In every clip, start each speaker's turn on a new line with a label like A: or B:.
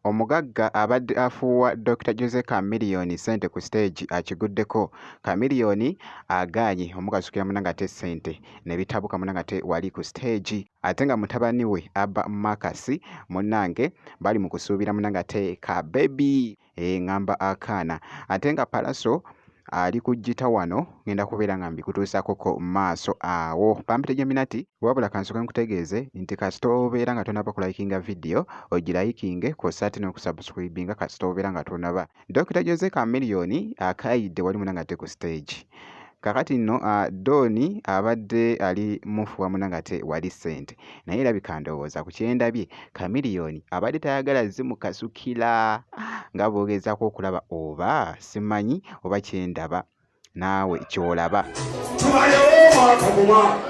A: Omugagga abadde afuuwa Dokita Jose Chameleone ssente ku siteegi akiguddeko. Chameleone agaanyi omukasukira muna ng'ate ssente ne bitabuka muna ng'ate wali ku siteegi ate nga mutabani we Abba Marcus munnange bali mu kusuubira muna ng'ate ka bbebi. eh, ngamba akaana ate nga palaso ali ku jita wano ngenda kubeera nga mbikutuusako ku maaso awo pampita geminati wabula kansoke nkutegeeze nti kasita obeera nga tonaba kulayikinga vidiyo ogirayikinge kwossa ate n'okusubscribinga kasita obeera nga tonaba dokita jose kamiliyoni akaayidde wali muna nga te ku siteegi Kakati nno uh, Don abadde ali mufu wamuna ngate wali sente naye erabika ndowooza ku kyendabye Chameleon abadde tayagala zimukasukira nga bwogezaako okulaba oba simanyi oba kyendaba naawe kyolaba tubayewo mwaka mumwaka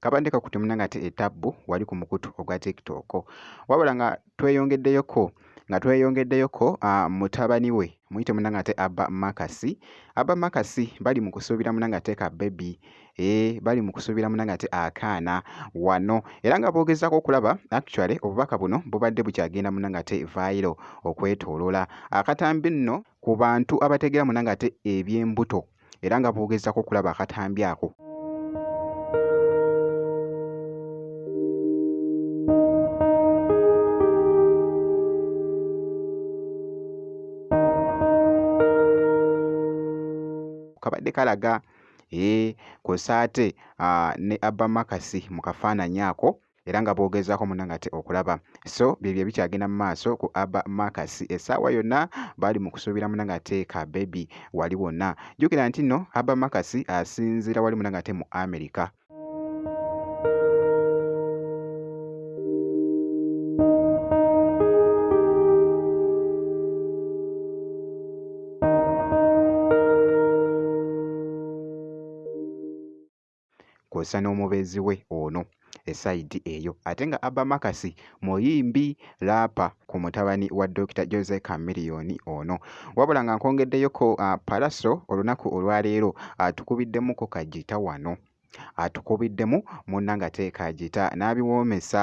A: kabadde kakutte munange ate etabbu wali ku mukutu ogwa tiktok wabula nga tweyongeddeyoko nga tweyongeddeyoko uh, mutabani we muyite munange ate abba makasi abba makasi bali mu kusuubira munange ate ka bebi e bali mu kusuubira munange ate akaana wano era nga boogezaako okulaba actually obubaka buno bubadde bukyagenda munange ate vairo okwetoolola akatambi nno ku bantu abategeera munange ate eby'embuto era nga bwogezako okulaba akatambi ako kabadde kalaga ee eh, kosaate ne abamakasi mu kafaananyi ako era nga boogezaako munange ate okulaba so byebyo ebikyagenda mu maaso ku aba marcus essaawa yonna baali mu kusuubira munange ate ka bebi wali wonna jjukira nti nno aba marcus asinziira wali munange ate mu america kwosa n'omubeezi we ono esayidi eyo ate nga Abba Makasi muyimbi laapa ku mutabani wa Dokita Jose Chameleon ono wabula nga nkwongeddeyooko uh, Palaso olunaku olwaleero atukubiddemu ku kajita wano atukubiddemu munna nga teeka ajita n'abiwoomesa